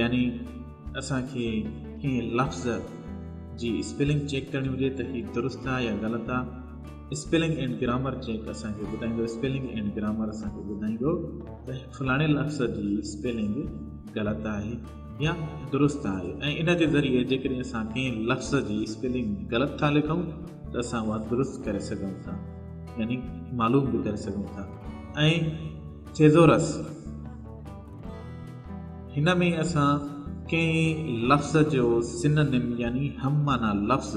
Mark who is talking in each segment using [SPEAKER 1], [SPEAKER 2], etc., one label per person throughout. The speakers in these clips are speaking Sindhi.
[SPEAKER 1] يعني اسان کي ڪنهن لفظ جي اسپيلنگ چيڪ ڪرڻي هجي ته هي درست آ يا غلط آ اسپيلنگ اينڊ گرامر چيڪ اسان کي ٻڌائيندو اسپيلنگ اينڊ گرامر اسان کي ٻڌائيندو ته فلاڻي لفظ جي اسپيلنگ غلط آهي يا درست آهي ۽ ان جي ذريعي جيڪڏهن اسان ڪنهن لفظ جي اسپيلنگ غلط ٿا لکون ته اسان اها درست ڪري سگهون ٿا يعني معلوم به ڪري سگهون ٿا ۽ ٿيزورس هن ۾ اسان ڪنهن لفظ جو سننم يعني هم معنيٰ لفظ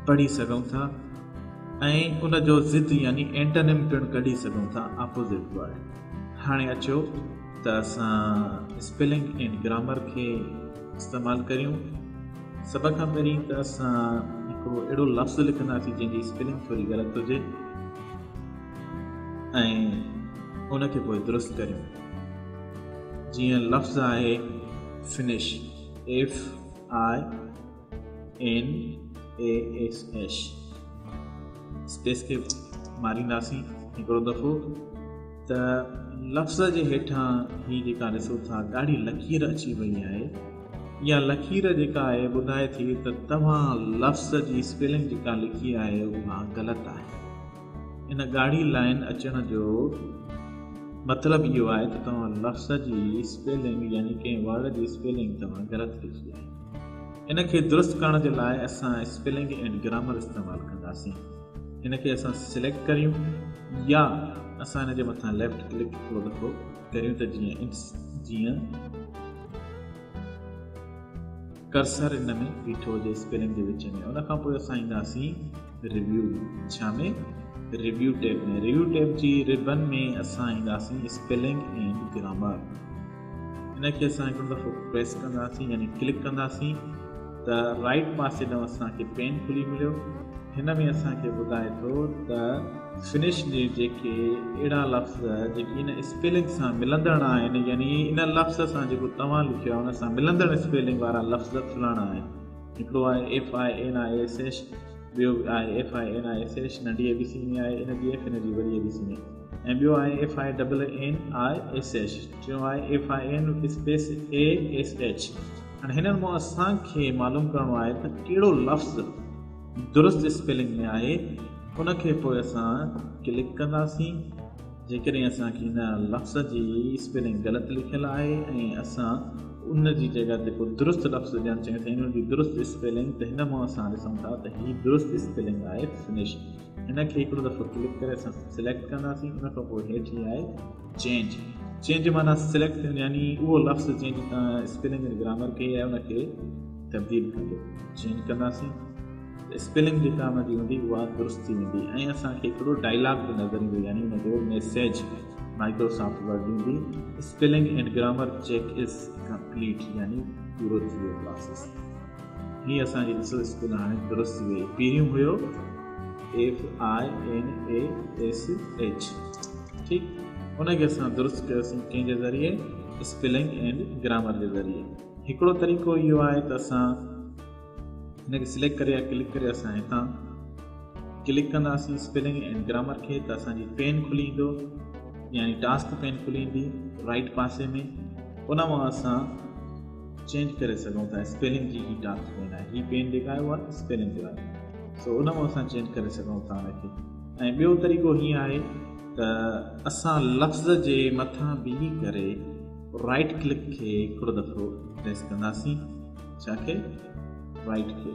[SPEAKER 1] پڙهي سگهون ٿا ۽ ان جو ضد يعني اينٽنم پڻ ڪڍي سگهون ٿا، Opposite Word. هاڻي اچو ته اسان اسپيلنگ اينڊ گرامر کي استعمال ڪريون. سڀ کان پهرين ته اسان هڪڙو اهڙو لفظ لکنداسين جنهن جي اسپيلنگ ٿوري غلط هجي. ۽ ان کي پوء درست ڪريون جيئن لفظ آهي Finish F I N A S H space کي مارينداسين هڪڙو دفعو ته لفظ جي هيٺان هي جيڪا ڏسو ٿا ڳاڙهي لڪير اچي وئي آهي يا لکير جيڪا آهي ٻڌائي ٿي ته توهان لفظ جي اسپيلنگ جيڪا لکي آهي اها غلط آهي ان ڳاڙهي لائين اچڻ جو مطلب اهو آهي ته توهان لفظ جي اسپيلنگ يعني ڪنهن ورڊ جي اسپيلنگ توهان غلط لکي آهي. ان کي درست ڪرڻ جي لاء اسان اسپيلنگ اينڊ گرامر استعمال ڪنداسين. ان کي اسان سليڪٽ ڪريون يا اسان ان جي مٿان ليفٽ ڪلڪ هڪڙو دفعو ڪريون ته جيئن جيئن ڪرسر ان ۾ بيٺو هجي اسڪرين جي وچ ۾ ان کان پوء اسان اينداسين ريويو ڇا ۾ ريويو ٽيب ۾ ريويو ٽيب جي ربن ۾ اسان اينداسين اسپيلنگ اينڊ گرامر ان کي اسان هڪڙو دفعو پريس ڪنداسين يعني ڪلڪ ڪنداسين ته رائيٽ پاسي ڏانهن اسان کي پين کلي مليو. هن ۾ اسان کي ٻڌائي ٿو ته فنش جي جيڪي اهڙا لفظ جيڪي ان اسپيلنگ سان ملندڙ آهن يعني ان لفظ سان جيڪو توهان لکيو آهي ان سان ملندڙ اسپيلنگ وارا لفظ کلڻ آهن. هڪڙو آهي F I N I S H ٻيو آهي F I N I S H ننڍي اي بي سي ۾ آهي ان جي ايف ان جي وڏي اي بي سي ۾ ۽ ٻيو آهي F I double N I S H ٽيون آهي F I N space A S H. هاڻي هنن مان اسان کي معلوم ڪرڻو آهي ته ڪهڙو لفظ درست اسپيلنگ ۾ آهي ان کي پوء اسان ڪلڪ ڪنداسين جيڪڏهن اسان کي هن لفظ جي اسپيلنگ غلط لکيل آهي ۽ اسان ان جي جڳهه تي ڪو درست لفظ ڏيڻ چاهيون ٿا ان جي درست اسپيلنگ ته هن مان اسان ڏسون ٿا ته هي درست اسپيلنگ آهي فنش هن کي هڪڙو دفعو ڪلڪ ڪري اسان سليڪٽ ڪنداسين ان کان پوء هيٺ هي آهي چينج، چينج جي معنيٰ سليڪٽ ٿيڻ يعني اهو لفظ جنهن جي تان اسپيلنگ ۽ گرامر ڪئي آهي ان کي تبديل ڪندو چينج ڪنداسين ته اسپيلنگ جيڪا ان جي هوندي اها درست ٿي ويندي ۽ اسان کي هڪڙو ڊائلاگ به نظر ايندو يعني ان جو ميسيج مائڪروسافٽ ورڊ ڏيندي spelling and grammar check is complete يعني پورو ٿي ويو پراسيس هي اسان جي ڏسيل اسڪول هاڻي درست ٿي وئي پهريون هيو FINASH ٺيڪ ان کي اسان درست ڪيوسين ڪنهن جي ذريعي اسپيلنگ اينڊ گرامر جي ذريعي هڪڙو طريقو اهو آهي ته اسان هن کي سليڪٽ ڪري يا ڪلڪ ڪري اسان هتان ڪلڪ ڪنداسين اسپيلنگ اينڊ گرامر کي ته اسان جي پين کلي ايندو يعني ٽاسڪ پين کلي ايندي رائٽ پاسي ۾ ان مان اسان چينج ڪري سگهون ٿا اسپيلنگ جي هي ٽاسڪ ڪونه آهي هي پين جيڪا آهي اها اسپيلنگ جو آهي سو ان مان اسان چينج ڪري سگهون ٿا ان کي ۽ ٻيو طريقو هي آهي ته اسان لفظ جي مٿان بيهي ڪري رائٽ ڪلڪ کي هڪڙو دفعو پريس ڪنداسين ڇا کي رائٽ کي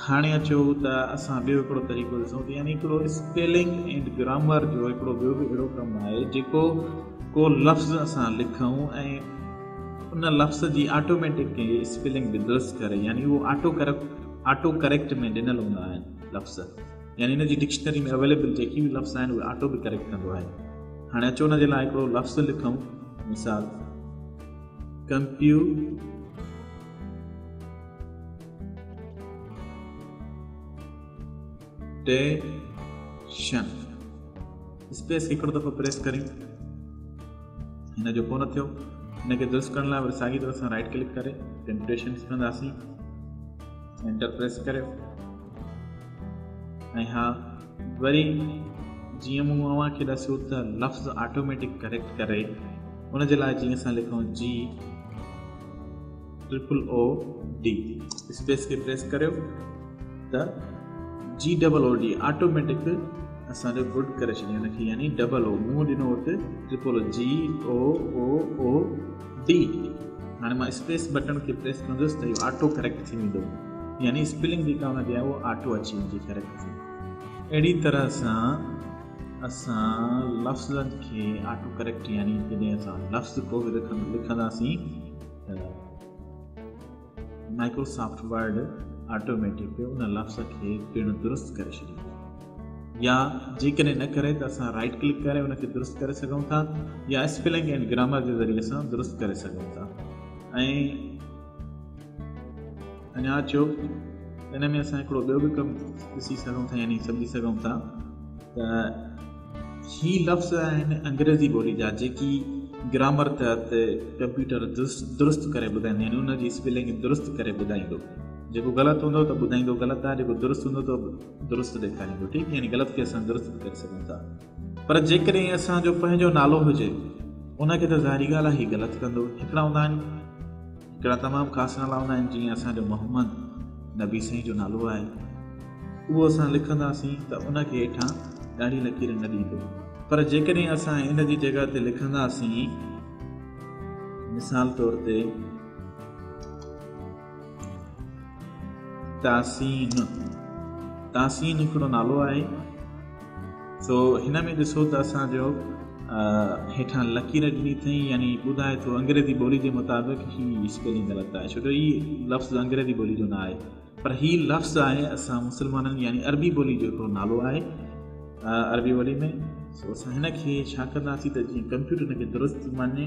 [SPEAKER 1] هاڻي اچو ته اسان ٻيو هڪڙو طريقو ڏسون ته يعني هڪڙو اسپيلنگ ۽ گرامر جو هڪڙو ٻيو به اهڙو ڪم آهي جيڪو ڪو لفظ اسان لکون ۽ ان لفظ جي آٽوميٽڪ ڪنهن اسپيلنگ به درست ڪري يعني اهو آٽو ڪريڪٽ آٽو ڪريڪٽ ۾ ڏنل هوندا آهن لفظ يعني ان جي ڊڪشنري ۾ اويليبل جيڪي به لفظ آهن اهي آٽو به ڪريڪٽ ڪندو آهي هاڻي اچو ان جي لاء هڪڙو لفظ لکون مثال ڪمپيو ٽيشن اسپيس کي هڪڙو دفعو پريس ڪريون هن جو ڪو نه ٿيو هن کي درست ڪرڻ لاء وري ساڳي طرح سان رائٽ ڪلڪ ڪري ٽيمپريشن کڻنداسين انٽر پريس ڪريو ۽ ها وري جيئن مون اوهان کي ڏسيو ته لفظ آٽوميٽڪ ڪريڪٽ ڪري ان جي لاء جيئن اسان لکون جي ٽرپل او ڊي اسپيس کي پريس ڪريو ته G double O D automatic اسان جو گڊ ڪري ڇڏي ان کي يعني ڊبل او مون ڏنو اتي triple O G O O O D هاڻي مان اسپيس بٽن کي پريس ڪندس ته اهو آٽو ڪريڪٽ ٿي ويندو يعني اسپيلنگ جيڪا هوندي آهي اهو آٽو اچي ويندي ڪريڪٽ ٿي اهڙي طرح سان اسان لفظن کي آٽو ڪريڪٽ يعني جڏهن اسان لفظ ڪو به لکنداسين ته مائڪروسافٽ ورڊ آٽوميٽڪ ان لفظ کي پڻ درست ڪري ڇڏيندو يا جيڪڏهن نه ڪري ته اسان رائٽ ڪلڪ ڪري ان کي درست ڪري سگهون ٿا يا اسپيلنگ ۽ گرامر جي ذريعي سان درست ڪري سگهون ٿا ۽ اڃا اچو ته ان ۾ اسان هڪڙو ٻيو به ڪم ڏسي سگهون ٿا يعني سمجهي سگهون ٿا ته هي لفظ آهن انگريزي ٻولي جا جيڪي گرامر تحت ڪمپيوٽر درست ڪري ٻڌائيندو يعني ان جي اسپيلنگ درست ڪري ٻڌائيندو جيڪو غلط هوندو ته ٻڌائيندو غلط آهي جيڪو درست هوندو ته درست ڏيکاريندو ٺيڪ يعني غلط کي اسان درست ڪري سگهون ٿا پر جيڪڏهن اسان جو پنهنجو نالو هجي ان کي ته ظاهري ڳالهه آهي هي غلط ڪندو. هڪڙا هوندا آهن هڪڙا تمام خاص نالا هوندا آهن جيئن اسان جو محمد نبي سائين جو نالو آهي اهو اسان لکنداسين ته ان کي هيٺان ڳاڙهي لڪير نه ڏيندو پر جيڪڏهن اسان ان جي جڳهه تي لکنداسين مثال طور تي تحسين، تحسين هڪڙو نالو آهي سو هن ۾ ڏسو ته اسان جو هيٺان لڪير ڏني اٿئي يعني ٻڌائي ٿو انگريزي ٻولي جي مطابق هي اسپيلنگ غلط آهي ڇو جو هي لفظ انگريزي ٻولي جو نه آهي پر هي لفظ آهي اسان مسلمانن يعني عربي ٻولي جو هڪڙو نالو آهي عربي ٻولي ۾ سو اسان هن کي ڇا ڪنداسين ته جيئن ڪمپيوٽر هن کي درست مڃي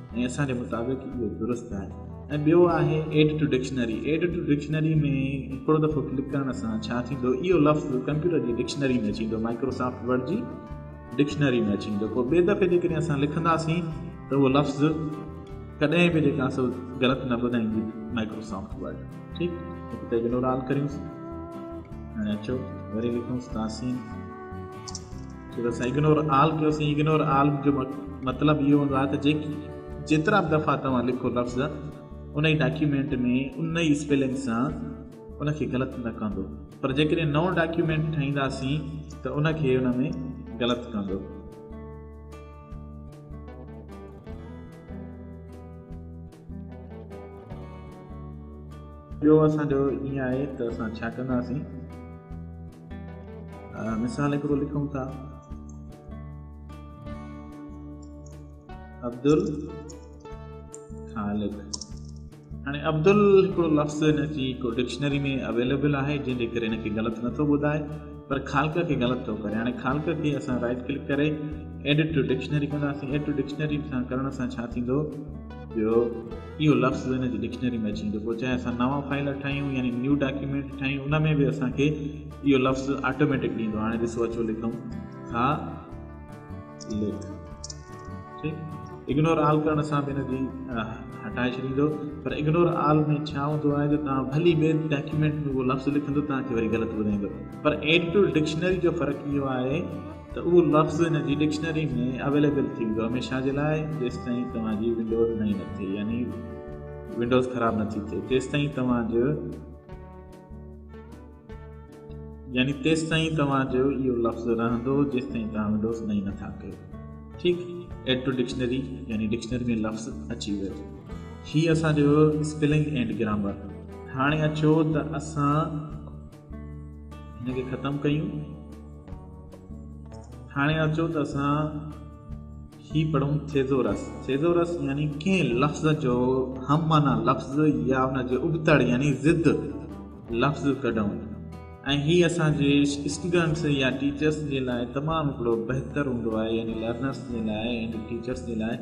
[SPEAKER 1] ۽ اسان جي مطابق اهو درست آهي. ۽ ٻيو آهي Add to Dictionary Add to Dictionary ۾ هڪڙو دفعو ڪلڪ ڪرڻ سان ڇا ٿيندو اهو لفظ ڪمپيوٽر جي ڊڪشنري ۾ اچي ويندو Microsoft Word جي ڊڪشنري ۾ اچي ويندو پوء ٻئي دفعي جيڪڏهن اسان لکنداسين ته اهو لفظ ڪڏهن به جيڪا سو غلط نه ٻڌائيندي Microsoft Word ٺيڪ هتي اگنور آل ڪريون ۽ اچو وري لکون تاسين جيڪي اسان اگنور آل ڪيوسين اگنور آل جو مطلب اهو هوندو آهي ته جيڪي جيترا به دفعا توهان لکو لفظ ان ئي ڊاڪيومينٽ ۾ ان ئي اسپيلنگ سان ان کي غلط نه ڪندو پر جيڪڏهن نئون ڊاڪيومينٽ ٺاهينداسين ته ان کي ان ۾ غلط ڪندو ٻيو اسان جو ائين آهي ته اسان ڇا ڪنداسين؟ مثال هڪڙو لکون ٿا عبدل خالق هاڻي عبدل هڪڙو لفظ هن جي هڪ ڊڪشنري ۾ اويليبل آهي جنهن جي ڪري هن کي غلط نٿو ٻڌائي پر خالقه کي غلط ٿو ڪري هاڻي خالقه کي اسان رائٽ ڪلڪ ڪري ايڊٽ ٽو ڊڪشنري ڪنداسين ايڊٽ ٽو ڊڪشنري سان ڪرڻ سان ڇا ٿيندو جو اهو لفظ هن جي ڊڪشنري ۾ اچي ويندو پوء چاهي اسان نوان فائل ٺاهيون يعني نيو ڊاڪيومينٽ ٺاهيون ان ۾ به اسان کي اهو لفظ آٽوميٽڪ ڏيندو هاڻي ڏسو اچو لکون ها لک اگنور آل ڪرڻ سان به ان جي هٽائي ڇڏيندو پر اگنور آل ۾ ڇا هوندو آهي جو توهان ڀلي ٻئي ڊاڪيومينٽ ۾ اهو لفظ لکندو توهان کي وري غلط ٻڌائيندو پر ايڊ ٽو ڊڪشنري جو فرق اهو آهي ته اهو لفظ ان جي ڊڪشنري ۾ اويليبل ٿي ويندو هميشه جي لاء جيستائين توهان جي ونڊوز نئين نه ٿئي يعني ونڊوز خراب نه ٿي ٿئي تيستائين توهان جو يعني تيستائين توهان جو اهو لفظ رهندو جيستائين توهان ونڊوز نئين نٿا ڪيو ٺيڪ ايڊ ٽو ڊڪشنري يعني ڊڪشنري ۾ لفظ اچي ويو هي اسان جو اسپيلنگ اينڊ گرامر هاڻي اچو ته اسان هن کي ختم ڪيون هاڻي اچو ته اسان هي پڙهون ٿيزورس. ٿيزورس يعني ڪنهن لفظ جو هم معنيٰ لفظ يا ان جي ابتڙ يعني ضد لفظ ڪڍون ۽ هي اسان جي اسٽوڊنٽس يا ٽيچرس جي لاء تمام هڪڙو بهتر هوندو آهي يعني لرنرس جي لاء يعني ٽيچرس جي لاء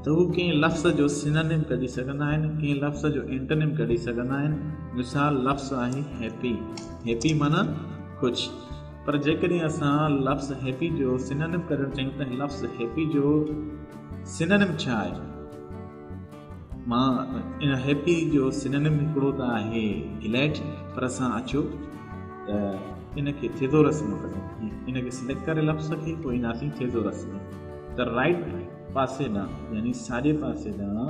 [SPEAKER 1] ته هو ڪنهن لفظ جو سينونيم ڪڍي سگهندا آهن ڪنهن لفظ جو اينٽونيم ڪڍي سگهندا آهن مثال لفظ آهي هيپي هيپي معنيٰ خوش. پر جيڪڏهن اسان لفظ هيپي جو سينونيم ڪڍڻ چاهيون ته لفظ هيپي جو سينونيم ڇا آهي؟ مان هيپي جو سينونيم هڪڙو ته آهي گليڊ پر اسان اچو ته ان کي ٿيزورس ۾ ڪڍون ان کي سليڪٽ ڪري لفظ کي پوء اينداسين ٿيزورس ۾ ته رائٽ پاسي ڏانهن يعني ساڄي پاسي ڏانهن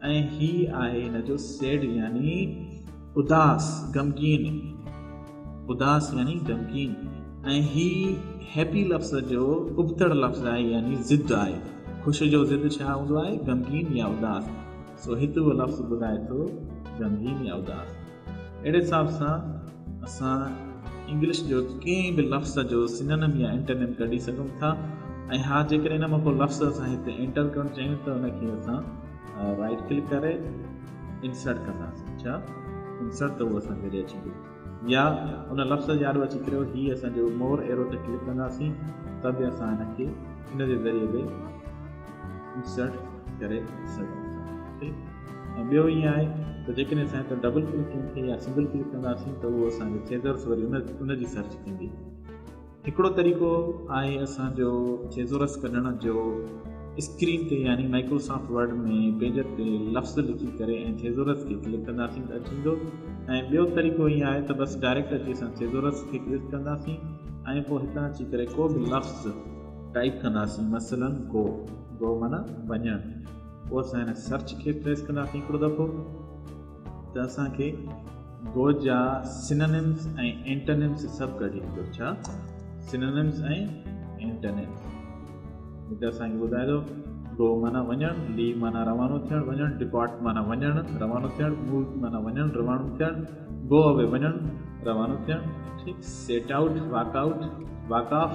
[SPEAKER 1] ۽ هي آهي هن جو سيڊ يعني اداس غمگين اداس يعني غمگين ۽ هي هيپي لفظ جو ابتڙ لفظ آهي يعني ضد آهي خوش جو ضد ڇا هوندو آهي غمگين يا اداس سو هت اهو لفظ ٻڌائي ٿو غمگين يا اداس اهڙي حساب سان اسان انگلش جو ڪنهن به لفظ جو سينونيم يا انٽينيم ڪڍي سگهون ٿا ۽ ها جيڪڏهن ان مان ڪو لفظ اسان هتي انٽر ڪرڻ چاهيون ته ان کي اسان رائٽ ڪلڪ ڪري انسرٽ ڪنداسين ڇا انسرٽ ته اهو اسان ذريعي اچي ويو يا ان لفظ جي آڏو اچي ڪريو هي اسان جو مور ايرو تي ڪلڪ ڪنداسين ته به اسان هن کي ان جي ذريعي به انسرٽ ڪري سگهون ٿا ۽ ٻيو ائين آهي ته جيڪڏهن اسان هتان ڊبل ڪلڪنگ کي يا سنگل ڪلڪ ڪنداسين ته اهو اسان جو Thesaurus وري ان جي سرچ ڪندي. هڪڙو طريقو آهي اسان جو Thesaurus ڪڍڻ جو اسڪرين تي يعني Microsoft Word ۾ پيجر تي لفظ لکي ڪري ۽ Thesaurus کي ڪلڪ ڪنداسين ته اچي ويندو ۽ ٻيو طريقو ائين آهي ته بس ڊائريڪٽ اچي اسان Thesaurus کي ڪلڪ ڪنداسين ۽ پوء هتان اچي ڪري ڪو به لفظ ٽائيپ ڪنداسين مثلاً Go، Go معنيٰ وڃڻ. پوء اسان هن سرچ کي ٽريس ڪنداسين هڪڙو دفعو ته اسان کي گو جا سننمس ۽ انٽنمس سڀ ڪڍي ايندو ڇا سننمس ۽ انٽنمس هتي اسان کي ٻڌائي ٿو گو معنی وڃڻ لي معنی روانو ٿيڻ وڃڻ ڊپارٽ معنی وڃڻ روانو ٿيڻ موو معنی وڃڻ روانو ٿيڻ گو اوي وڃڻ روانو ٿيڻ ٺيڪ set out walk out walk off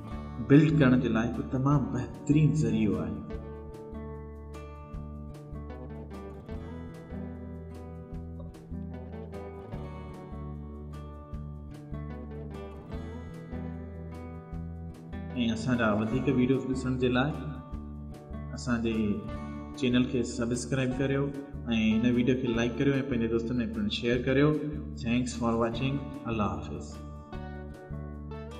[SPEAKER 1] build ڪرڻ جي لاء هڪ تمام بهترين ذريعو آهي. ۽ اسان جا وڌيڪ ويڊيوز ڏسڻ جي لاء اسان جي چينل کي سبسڪرائب ڪريو ۽ هن ويڊيو کي لائڪ ڪريو ۽ پنهنجي دوستن ۾ پڻ شيئر ڪريو ٿينڪس فار واچنگ الله حافظ